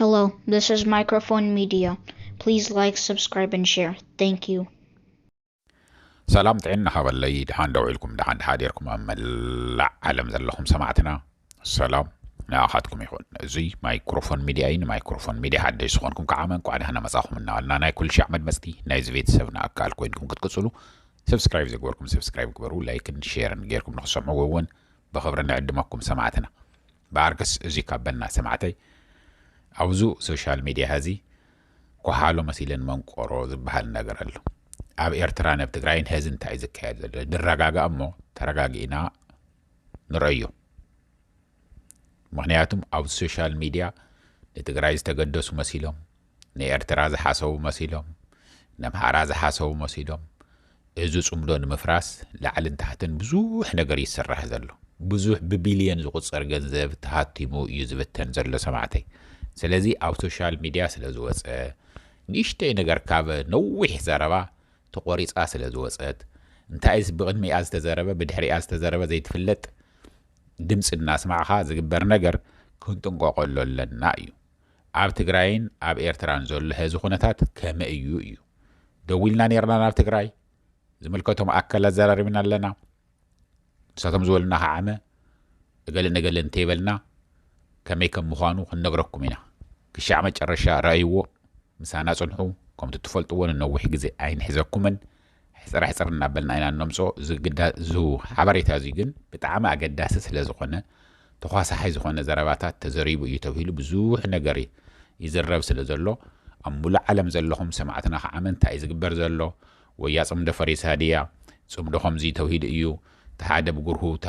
Hello, this is Microphone Media. Please like, subscribe, and share. Thank you. ሰላም ጥዕና ሃበለይ ድሓን ደው ኢልኩም ድሓን ድሓዲርኩም ኣብ መላእ ዓለም ዘለኹም ሰማዕትና ሰላም ንኣኻትኩም ይኹን እዙይ ማይክሮፎን ሚድያ እዩ ንማይክሮፎን ሚድያ ሓደሽ ዝኾንኩም ከዓ መንቋዕ ድሓና መፃኹም እናበልና ናይ ኩሉ ሻዕ መድመፅቲ ናይዚ ቤተሰብና ኣካል ኮይንኩም ክትቅፅሉ ሰብስክራይብ ዘግበርኩም ሰብስክራይብ ግበሩ ላይክን ሼርን ጌርኩም ንክሰምዑ እውን ብክብሪ ንዕድመኩም ሰማዕትና ባኣርከስ እዚ ካብ በና ሰማዕተይ ኣውዙ ሶሻል ሚድያ ሀዚ ኮሓሎ መሲለን መንቆሮ ዝባሃል ነገር ኣሎ ኣብ ኤርትራ ነብ ትግራይን ሀዚ እንታይ እዩ ዝካየድ ዘሎ ድረጋጋእ እሞ ተረጋጊእና ንረዮ ምክንያቱም ኣብ ሶሻል ሚድያ ንትግራይ ዝተገደሱ መሲሎም ንኤርትራ ዝሓሰቡ መሲሎም ነምሓራ ዝሓሰቡ መሲሎም እዚ ጽምዶ ንምፍራስ ላዕልን ታሕትን ብዙሕ ነገር እዩ ዝስራሕ ዘሎ ብዙሕ ብቢልዮን ዝቁጸር ገንዘብ ተሃቲሙ እዩ ዝብተን ዘሎ ሰማዕተይ ስለዚ ኣብ ሶሻል ሚድያ ስለ ዝወጸ ንእሽተይ ነገር ካብ ነዊሕ ዘረባ ተቆሪጻ ስለ ዝወጸት እንታይስ ብቅድሚኣ ዝተዘረበ ብድሕሪኣ ዝተዘረበ ዘይትፍለጥ ድምጺ እናስማዕኻ ዝግበር ነገር ክንጥንቀቀሉ ኣለና እዩ ኣብ ትግራይን ኣብ ኤርትራን ዘሎ ሀዚ ኩነታት ከመይ እዩ እዩ ደዊልና ነርና ናብ ትግራይ ዝምልከቶም ኣካል ኣዘራሪብና ኣለና ንሳቶም ዝበሉና ከዓመ እገለ ነገለ እንተይበልና ከመይ ከም ምዃኑ ክንነግረኩም ኢና ክሻዕ መጨረሻ ረኣይዎ ምሳና ጽንሑ ከምቲ ትፈልጥዎ ንነዊሕ ግዜ ኣይንሕዘኩምን ሕጽር ሕጽር እናበልና ኢና እነምጽኦ፣ እዚ ግዳ እዚ ሓበሬታ እዚ ግን ብጣዕሚ ኣገዳሲ ስለ ዝኾነ፣ ተዃሳሓይ ዝኾነ ዘረባታት ተዘሪቡ እዩ ተብሂሉ ብዙሕ ነገር ይዝረብ ስለ ዘሎ፣ ኣብ ምሉእ ዓለም ዘለኹም ሰማዕትና ኸዓ መን እንታይ እዩ ዝግበር ዘሎ፣ ወያ ጽምዶ ፈሪሳ ድያ፣ ጽምዶ ከምዚ ተብሂሉ እዩ፣ እቲ ሓደ ብጉርሁ እቲ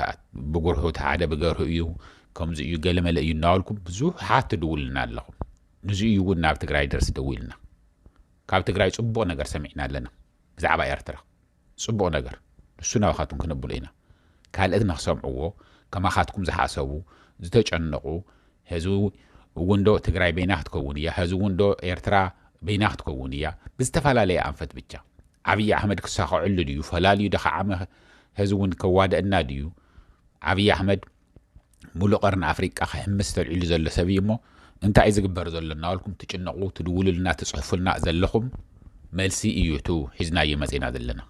ብጉርሑ እቲ ሓደ ብገርሁ እዩ፣ ከምዚ እዩ ገለ መለ እዩ እናበልኩም ብዙሓት ትድውሉልና ኣለኹም። ንዚ እዩ እውን ናብ ትግራይ ደርስ ደዊልና። ካብ ትግራይ ጽቡቅ ነገር ሰሚዕና ኣለና ብዛዕባ ኤርትራ ጽቡቅ ነገር ንሱ ናባካቱም ክነብሎ ኢና ካልእት ንክሰምዕዎ ከማካትኩም ዝሓሰቡ ዝተጨነቁ ህዝቢ እውን ዶ ትግራይ በይና ክትከውን እያ ህዝቢ እውን ዶ ኤርትራ በይና ክትከውን እያ ብዝተፈላለየ ኣንፈት ብቻ ዓብይ ኣሕመድ ክሳኸዐሉ ድዩ ፈላልዩ ደካዓመ ህዝቢ እውን ከዋደእና ድዩ ዓብይ ኣሕመድ ሙሉእ ቀርኒ ኣፍሪቃ ክሕምስ ተልዒሉ ዘሎ ሰብ እዩ እሞ እንታይ እዩ ዝግበር ዘሎ እናበልኩም ትጭነቑ ትድውሉልና ትጽሕፉልና ዘለኹም መልሲ እዩ እቱ ሒዝናዮ መጺእና ዘለና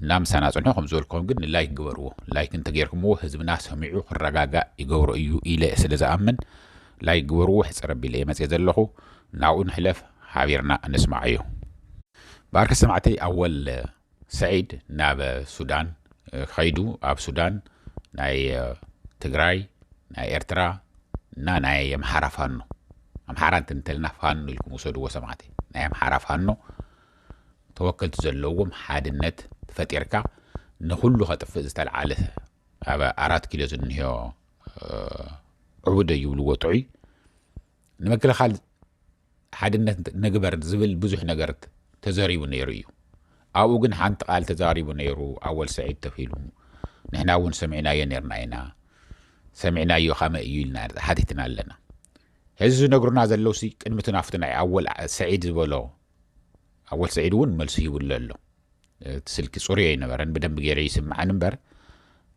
እና ምሳና ጽንሑ ከም ዝበልኩም ግን ንላይክ ግበርዎ ላይክ እንተጌርኩምዎ ህዝብና ሰሚዑ ክረጋጋእ ይገብሮ እዩ ኢለ ስለ ዝኣምን ላይክ ግበርዎ ሕጽር ኣቢለ እየ መጽየ ዘለኹ ናብኡ ንሕለፍ ሓቢርና ንስማዓዮ ባርኪ ሰማዕተይ ኣወል ሰዒድ ናብ ሱዳን ከይዱ ኣብ ሱዳን ናይ ትግራይ ናይ ኤርትራ እና ናይ ኣምሓራ ፋኖ ኣምሓራ እንትንተልና ፋኖ ኢልኩም ውሰድዎ ሰማዕቲ ናይ ኣምሓራ ፋኖ ተወከልቲ ዘለዎም ሓድነት ፈጢርካ ንኩሉ ከጥፍእ ዝተልዓለ ኣብ ኣራት ኪሎ ዝንሄዮ ዕቡደ ይብልዎ ጥዑይ ንምክልኻል ሓድነት ንግበር ዝብል ብዙሕ ነገር ተዘሪቡ ነይሩ እዩ። ኣብኡ ግን ሓንቲ ቃል ተዛሪቡ ነይሩ ኣወል ሰዒድ ተኺሉ ንሕና እውን ሰሚዕናዮ ነርና ኢና ሰሚዕናዮ ካመይ እዩ ኢልና ሓቲትና ኣለና ሕዚ ዝነግሩና ዘለውሲ ቅድሚ እቲ ናፍቲ ናይ ኣወል ሰዒድ ዝበሎ ኣወል ሰዒድ እውን መልሲ ሂቡሉ ኣሎ እቲ ስልኪ ፅሩይ ኣይነበረን ብደንብ ገይረ ይስምዓን እምበር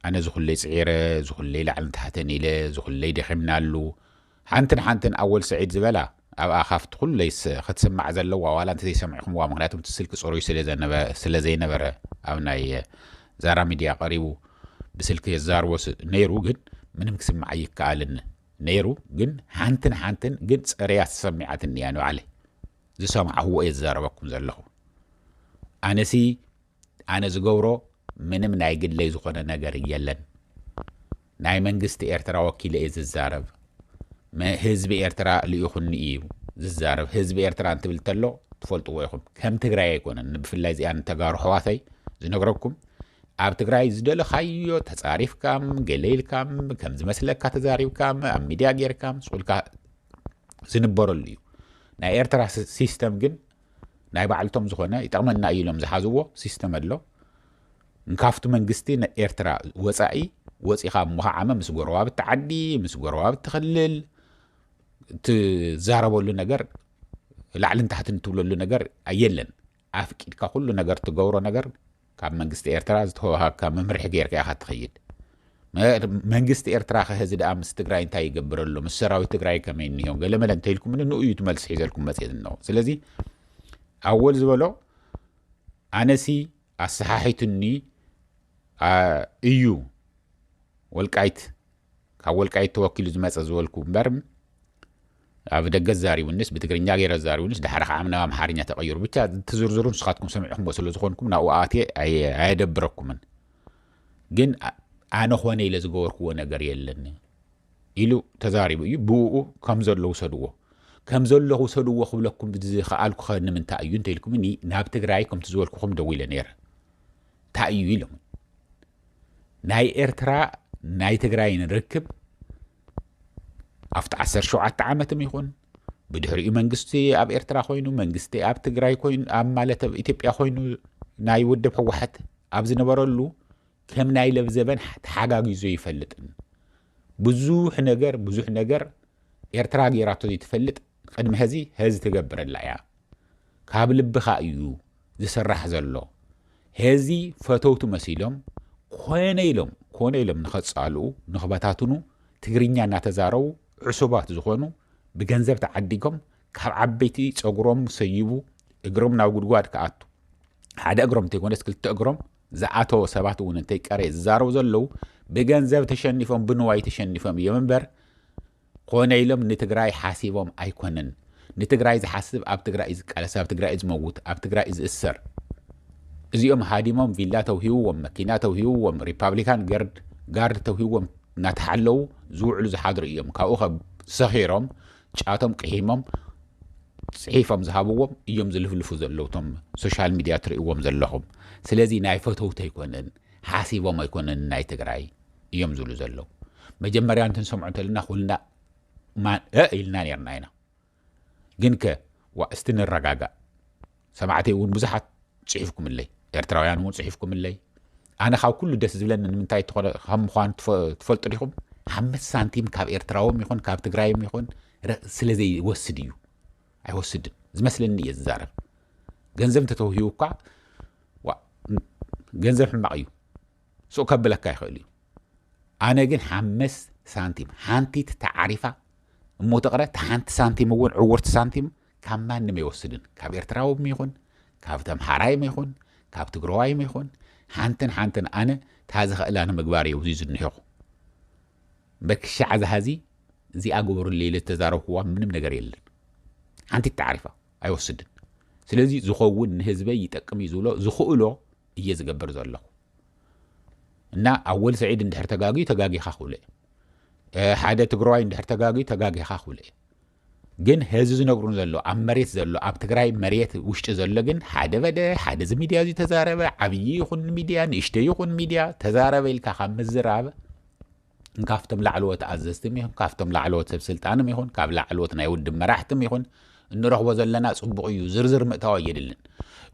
ኣነ ዝኹለይ ፅዒረ ዝኹለይ ላዕልን ታሕተን ኢለ ዝኹለይ ደኺምናሉ ሓንትን ሓንትን ኣወል ስዒድ ዝበላ ኣብ ኣኻፍት ኹለይ ኽትስማዕ ዘለዋ ዋላ እንተዘይሰሚዕኹምዋ ምኽንያቱ እቲ ስልኪ ፅሩይ ስለዘይነበረ ኣብ ናይ ዛራ ሚድያ ቐሪቡ ብስልኪ የዛርቦ ነይሩ ግን ምንም ክስማዕ ኣይከኣልን ነይሩ ግን ሓንትን ሓንትን ግን ፅርያ ተሰሚዓትኒ እያ ንባዕለይ ዝሰማዕኹዎ እየ ዝዛረበኩም ዘለኹ ኣነሲ ኣነ ዝገብሮ ምንም ናይ ግለይ ዝኾነ ነገር የለን ናይ መንግስቲ ኤርትራ ወኪለ እየ ዝዛረብ ህዝቢ ኤርትራ ልኢኹኒ እዩ ዝዛረብ ህዝቢ ኤርትራ እንትብል እንተሎ ትፈልጥዎ ኢኹም ከም ትግራይ ኣይኮነን ብፍላይ እዚኣ ንተጋሩ ሕዋተይ ዝነግረኩም ኣብ ትግራይ ዝደለኻዮ ተፃሪፍካም ገለ ኢልካም ከም ዝመስለካ ተዛሪብካም ኣብ ሚድያ ጌርካም ስቁልካ ዝንበረሉ እዩ ናይ ኤርትራ ሲስተም ግን ናይ ባዕልቶም ዝኾነ ይጠቕመና እዩ ኢሎም ዝሓዝዎ ሲስተም ኣሎ ካብቲ መንግስቲ ናይ ኤርትራ ወፃኢ ወፂኻ እሞ ከዓመ ምስ ጎረባብቲ ዓዲ ምስ ጎረባብቲ ክልል ትዛረበሉ ነገር ላዕልን ታሕትን ትብለሉ ነገር የለን ኣፍቂድካ ኩሉ ነገር ትገብሮ ነገር ካብ መንግስቲ ኤርትራ ዝተወሃብካ መምርሒ ጌርካ ኢኻ ትኸይድ። መንግስቲ ኤርትራኸ ሀዚ ደኣ ምስ ትግራይ እንታይ ይገብር ኣሎ፣ ምስ ሰራዊት ትግራይ ከመይ እኒሆ ገለመለ እንተኢልኩምኒ ንኡ እዩ እቲ መልሲ ሒዘልኩም መፅየ ዝነኹ። ስለዚ ኣወል ዝበሎ ኣነሲ ኣሰሓሒቱኒ እዩ ወልቃይት ካብ ወልቃይት ተወኪሉ ዝመጸ ዝበልኩ እምበር ኣብ ደገ ዛሪቡኒስ ብትግርኛ ገይረ ዛሪቡኒስ ድሓር ከዓ ናብ ኣምሓርኛ ተቐይሩ ብቻ እቲ ዝርዝሩ ንስኻትኩም ሰሚዕኹምዎ ስለ ዝኾንኩም ናብኡ ኣትየ ኣየደብረኩምን ግን ኣነ ኾነ ኢለ ዝገበርኩዎ ነገር የለን ኢሉ ተዛሪቡ እዩ ብኡ ከም ዘሎ ውሰድዎ ከም ዘሎ ውሰድዎ ክብለኩም ዝኸኣልኩ ኸ ንምንታይ እዩ እንተኢልኩምኒ ናብ ትግራይ ከምቲ ዝበልኩኹም ደዊለ ነይረ እንታይ እዩ ኢሎምን ናይ ኤርትራ ናይ ትግራይን ርክብ ኣብቲ ዓሰርተ ሸውዓተ ዓመትም ይኹን ብድሕሪኡ መንግስቲ ኣብ ኤርትራ ኮይኑ መንግስቲ ኣብ ትግራይ ኮይኑ ኣብ ማለት ኣብ ኢትዮጵያ ኮይኑ ናይ ውድብ ህወሓት ኣብ ዝነበረሉ ከም ናይ ለብዘበን ተሓጋጊዞ ይፈልጥን ብዙሕ ነገር ብዙሕ ነገር ኤርትራ ገይራቶ ዘይትፈልጥ ቅድሚ ሀዚ ሀዚ ትገብረላ እያ ካብ ልብካ እዩ ዝስራሕ ዘሎ ሀዚ ፈተውቱ መሲሎም ኮነ ኢሎም ኮነ ኢሎም ንከፃልኡ ንክበታትኑ ትግርኛ እናተዛረቡ ዕሱባት ዝኮኑ ብገንዘብ ተዓዲጎም ካብ ዓበይቲ ፀጉሮም ሰይቡ እግሮም ናብ ጉድጓድ ክኣቱ ሓደ እግሮም እንተይኮነስ ክልተ እግሮም ዝኣተወ ሰባት እውን እንተይቀረየ ዝዛረቡ ዘለው ብገንዘብ ተሸኒፎም ብንዋይ ተሸኒፎም እዮም እምበር ኮነ ኢሎም ንትግራይ ሓሲቦም ኣይኮነን ንትግራይ ዝሓስብ ኣብ ትግራይ እዩ ዝቃለስ ኣብ ትግራይ እዩ ዝመውት ኣብ ትግራይ እዩ ዝእሰር እዚኦም ሃዲሞም ቪላ ተውሂብዎም መኪና ተውሂብዎም ሪፓብሊካን ገርድ ጋርድ ተውሂብዎም እናተሓለዉ ዝውዕሉ ዝሓድሩ እዮም ካብኡ ከ ሰኺሮም ጫቶም ቅሒሞም ፅሒፎም ዝሃብዎም እዮም ዝልፍልፉ ዘለዉ እቶም ሶሻል ሚድያ ትርእዎም ዘለኹም ስለዚ ናይ ፈተውቲ ኣይኮነን ሓሲቦም ኣይኮነን ናይ ትግራይ እዮም ዝብሉ ዘለዉ መጀመርያ እንትንሰምዖ እንተለና ኩልና ማን እ ኢልና ነርና ኢና ግን ከ ዋ እስቲ ንረጋጋእ ሰማዕተይ እውን ብዙሓት ፅሒፍኩምለይ ኤርትራውያን እውን ፅሒፍኩምለይ ኣነ ካብ ኩሉ ደስ ዝብለኒ ንምንታይ ከም ምኳኑ ትፈልጡ ዲኹም ሓምስት ሳንቲም ካብ ኤርትራዎም ይኹን ካብ ትግራይም ይኹን ስለ ዘይወስድ እዩ ኣይወስድን ዝመስለኒ እየ ዝዛረብ ገንዘብ እንተተውሂቡ እኳ ገንዘብ ሕማቕ እዩ ሱቕ ከብለካ ይኽእል እዩ ኣነ ግን ሓምስ ሳንቲም ሓንቲት ተዓሪፋ እሞ ትቕረ ተሓንቲ ሳንቲም እውን ዕውርቲ ሳንቲም ካብ ማንም ኣይወስድን ካብ ኤርትራውም ይኹን ካብ ተምሓራይም ይኹን ካብ ትግረዋይም ይኹን ሓንትን ሓንትን ኣነ እታ ዝኽእላ ንምግባር እዩ ብዙይ ዝንሄኹ በክሻዕ ዝሃዚ እዚኣ ግበሩለይ ኢለ ዝተዛረብኩዋ ምንም ነገር የለን ሓንቲ ተዓሪፋ ኣይወስድን ስለዚ ዝኸውን ንህዝበይ ይጠቅም እዩ ዝብሎ ዝኽእሎ እየ ዝገብር ዘለኹ እና ኣወል ስዒድ እንድሕር ተጋግዩ ተጋጊኻ ክብሎ እየ ሓደ ትግራዋይ እንድሕር ተጋግዩ ተጋጊኻ ክብሎ እየ ግን ህዚ ዝነግሩን ዘሎ ኣብ መሬት ዘሎ ኣብ ትግራይ መሬት ውሽጢ ዘሎ ግን ሓደ በለ ሓደ እዚ ሚድያ እዚ ተዛረበ ዓብዪ ይኹን ሚድያ ንእሽተይ ይኹን ሚድያ ተዛረበ ኢልካ ካብ ምዝራብ ንካፍቶም ላዕለዎት ኣዘዝትም ይኹን ካፍቶም ላዕለዎት ሰብ ስልጣንም ይኹን ካብ ላዕለዎት ናይ ውድብ መራሕትም ይኹን እንረኽቦ ዘለና ጽቡቕ እዩ ዝርዝር ምእታው ኣየድልን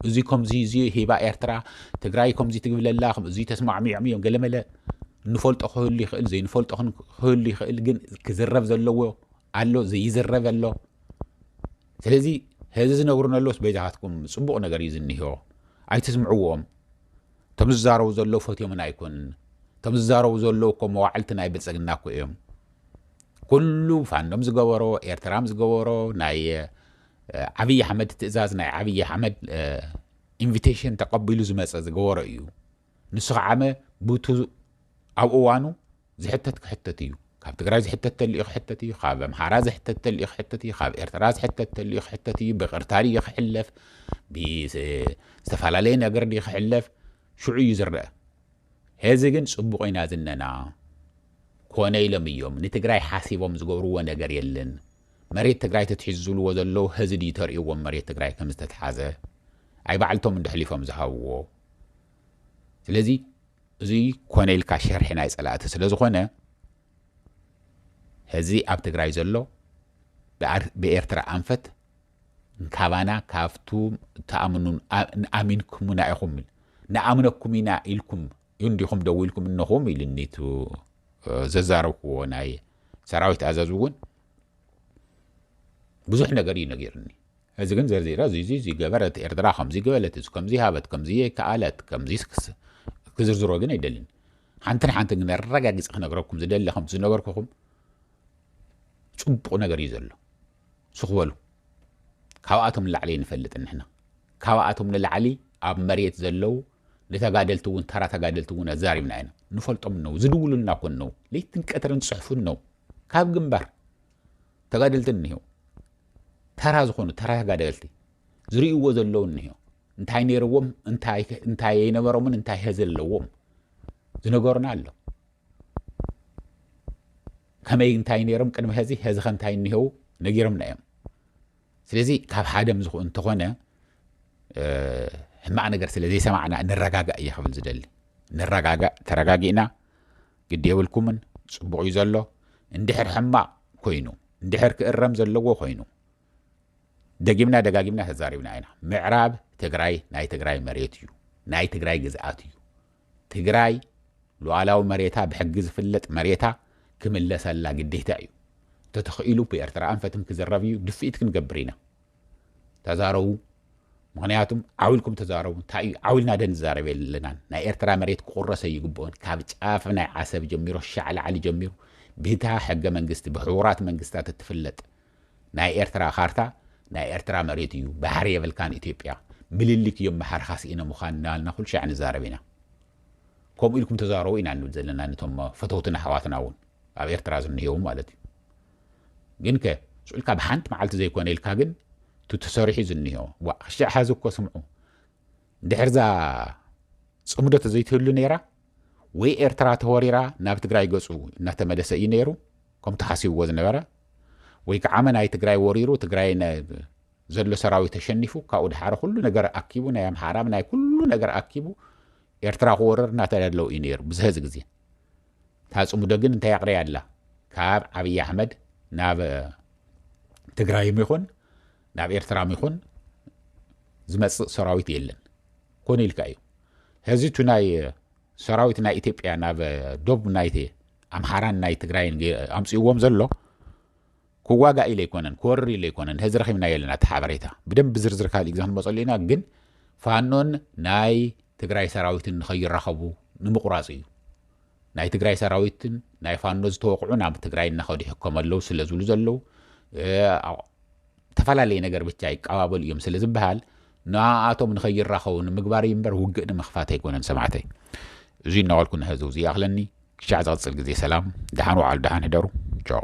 እዚ ከምዚ እዚ ሂባ ኤርትራ ትግራይ ከምዚ ትግብለላ እዚ ተስማዕሚዖም እዮም ገለመለ ንፈልጦ ክህሉ ይኽእል ዘይንፈልጦ ክህሉ ይኽእል ግን ክዝረብ ዘለዎ ኣሎ ዘይዝረብ ኣሎ ስለዚ ህዚ ዝነግሩን ኣሎስ በይዛኻትኩም ፅቡቕ ነገር እዩ ዝኒሆ ኣይትስምዕዎም እቶም ዝዛረቡ ዘለው ፈትዮምና ኣይኮኑን እቶም ዝዛረቡ ዘለው እኮ መዋዕልቲ ናይ ብልፅግና እኮ እዮም ኩሉ ፋኖም ዝገበሮ ኤርትራም ዝገበሮ ናይ ዓብዪ ኣሕመድ ትእዛዝ ናይ ዓብዪ ኣሕመድ ኢንቪቴሽን ተቐቢሉ ዝመፀ ዝገበሮ እዩ ንሱ ከዓመ ብቱ ኣብ እዋኑ ዝሕተት ክሕተት እዩ ካብ ትግራይ ዝሕተት ተልእዩ ክሕተት እዩ ካብ ኣምሓራ ዝሕተት ተልእዩ ክሕተት እዩ ካብ ኤርትራ ዝሕተት ተልእዩ ክሕተት እዩ ብቅርታ ድዩ ክሕለፍ ብዝተፈላለየ ነገር ድዩ ክሕለፍ ሽዑ እዩ ዝረአ ሄዚ ግን ፅቡቕ ኢና ዝነና ኮነ ኢሎም እዮም ንትግራይ ሓሲቦም ዝገብርዎ ነገር የለን መሬት ትግራይ ተትሒዙ ዝብልዎ ዘለዉ ሀዚ ድዩ ተርእዎም መሬት ትግራይ ከም ዝተትሓዘ ኣይ ባዕልቶም እንዶ ሕሊፎም ዝሃብዎ ስለዚ እዚ ኮነ ኢልካ ሸርሒ ናይ ፀላእቲ ስለ ዝኾነ ሕዚ ኣብ ትግራይ ዘሎ ብኤርትራ ኣንፈት ካባና ካብቱ ተኣምኑ ኣሚንኩምና ኢኹም ንኣምነኩም ኢና ኢልኩም እንዲኹም ደዊልኩም እነኹም ኢልኒ ቱ ዘዛረብኩዎ ናይ ሰራዊት ኣዛዝ እውን ብዙሕ ነገር እዩ ነጊርኒ እዚ ግን ዘርዚራ እዙይዙይዙይ ገበረት ኤርትራ ከምዙይ ገበለት እዚ ከምዙይ ሃበት ከምዙይ ከኣለት ከምዙይ ክስ ክዝርዝሮ ግን ኣይደልን ሓንትን ሓንትን ግን ኣረጋጊፀ ክነግረኩም ዝደሊ ከምቲ ዝነበርኩኹም ፅቡቕ ነገር እዩ ዘሎ ስኽበሉ ካብኣቶም ንላዕሊ ንፈልጥን ንሕና ካብኣቶም ንላዕሊ ኣብ መሬት ዘለው ንተጋደልቲ እውን ተራ ተጋደልቲ እውን ኣዛሪብና ኢና ንፈልጦም ነው ዝድውሉልና ኮን ነው ለይትን ቀትርን ፅሑፉን ነው ካብ ግንባር ተጋደልቲ እኒሀው ተራ ዝኾኑ ተራ ተጋደልቲ ዝርእይዎ ዘለዉ እኒሀው እንታይ ነይርዎም እንታይ ኣይነበሮምን እንታይ ሀ ዘለዎም ዝነገሩና ኣሎ ከመይ እንታይ ነይሮም ቅድሚ ሀዚ ሀዚ ከ እንታይ እኒሀው ነጊሮምና እዮም ስለዚ ካብ ሓደም ዝኾ እንተኾነ ሕማቕ ነገር ስለ ዘይሰማዕና ንረጋጋእ እየ ክብል ዝደሊ ንረጋጋእ ተረጋጊእና ግዲ የብልኩምን ጽቡቅ እዩ ዘሎ እንድሕር ሕማቅ ኮይኑ እንድሕር ክእረም ዘለዎ ኮይኑ ደጊምና ደጋጊምና ተዛሪብና ኢና ምዕራብ ትግራይ ናይ ትግራይ መሬት እዩ ናይ ትግራይ ግዝኣት እዩ ትግራይ ሉዓላዊ መሬታ ብሕጊ ዝፍለጥ መሬታ ክምለሰላ ግዴታ እዩ ተተኽኢሉ ብኤርትራ ኣንፈትም ክዝረብ እዩ ድፍኢት ክንገብር ኢና ተዛረቡ ምክንያቱ ዓው ኢልኩም ተዛረቡ እንታይ እዩ ዓው ኢልና ደ ንዛረብ የለናን ናይ ኤርትራ መሬት ክቁረስ ኣይግብኦን ካብ ጫፍ ናይ ዓሰብ ጀሚሮ ሻዕ ላዕሊ ጀሚሩ ብታ ሕገ መንግስቲ ብሕቡራት መንግስታት እትፍለጥ ናይ ኤርትራ ካርታ ናይ ኤርትራ መሬት እዩ ባሕሪ የብልካን ኢትዮጵያ ምልልክ እዮም መሓርኻ ስኢነ ምዃን እናበልና ኩሉ ሻዕ ንዛረብ ኢና ከምኡ ኢልኩም ተዛረቡ ኢና ንብል ዘለና ነቶም ፈተውትን ኣሕዋትና እውን ኣብ ኤርትራ ዝንሄው ማለት እዩ ግንከ ስቁኢልካ ብሓንቲ መዓልቲ ዘይኮነ ኢልካ ግን እቲ ተሰሪሑ ዝኒሆ ዋእ ሽዕ ሐዚ እኮ ስምዑ ድሕርዛ ፅምዶ ተዘይትህሉ ነይራ ወይ ኤርትራ ተወሪራ ናብ ትግራይ ገፁ እናተመለሰ እዩ ነይሩ ከም ተሓሲብዎ ዝነበረ ወይ ከዓ መናይ ትግራይ ወሪሩ ትግራይ ዘሎ ሰራዊት ተሸኒፉ ካብኡ ድሓረ ኩሉ ነገር ኣኪቡ ናይ ኣምሓራ ናይ ኩሉ ነገር ኣኪቡ ኤርትራ ክወርር እናተዳለው እዩ ነይሩ ብዝህዚ ግዜ እታ ፅምዶ ግን እንታይ ኣቕርያ ኣላ ካብ ዓብዪ ኣሕመድ ናብ ትግራይም ይኹን ናብ ኤርትራም ይኹን ዝመፅእ ሰራዊት የለን ኮነ ኢልካ እዩ ሕዚ እቲ ናይ ሰራዊት ናይ ኢትዮጵያ ናብ ዶብ ናይ ኣምሓራን ናይ ትግራይን ኣምፅእዎም ዘሎ ክዋጋእ ኢለ ኣይኮነን ክወርር ኢለ ኣይኮነን ሀዚ ረኪብናዮ ኣለና እቲ ሓበሬታ ብደንብ ብዝርዝር ካሊእ ግዜ ክንመፀሉ ኢና ግን ፋኖን ናይ ትግራይ ሰራዊትን ንከይራኸቡ ንምቑራፅ እዩ ናይ ትግራይ ሰራዊትን ናይ ፋኖ ዝተወቕዑ ናብ ትግራይ እናኸዱ ይሕከሙ ኣለዉ ስለ ዝብሉ ዘለዉ ተፈላለየ ነገር ብቻ ይቀባበሉ እዮም ስለ ዝበሃል ንኣቶም ንኸይራኸቡ ንምግባር እዩ እምበር ውግእ ንምኽፋት ኣይኮነን ሰማዕተይ እዙይ እናበልኩ ንሕዚ ውዚ ይኣኽለኒ ክሻዕ ዝቅጽል ግዜ ሰላም ደሓን ወዓሉ ደሓን ሕደሩ ቻው።